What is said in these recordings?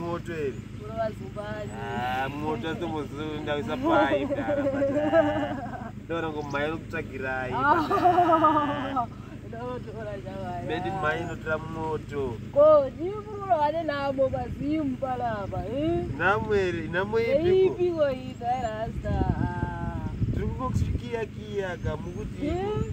Moto ere? Ah, moto atombozoendawisa pai mdara mdara. Ndora ngomai nokutsvagirai. Ah. Medi mai notora moto. Ko ndiri kurora vane namo pazimu palapa. Eh? Namo ere? Namo ipi? Ipi ko ita rasta. Tiri kungokusikiya kiya kamukuti. Eh?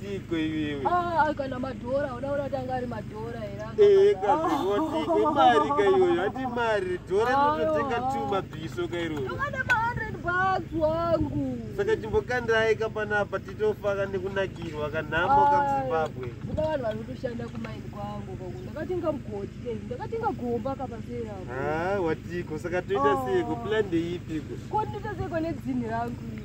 Tiko iwewe. Ah, kana madhora unaona kuti anga ari madhora here? Eh, kazi wotiko ah. mari ka iyoyo ati mari dhora inototenga two mabhiso ka iroro. Ndokana ma 100 bucks wangu. Saka chimbokandirai ka panapa titofa ka nekunakirwa ka nhamo ka muZimbabwe. Kuba vanhu vari kutoshanda kumaini kwangu ko ndakatenga mugodi ke ndakatenga gomba ka pasera. Ah, watiko saka toita ah. sei ko plan ndeipi ko? Ko nditoita sei ko nedzinhi rangu iri?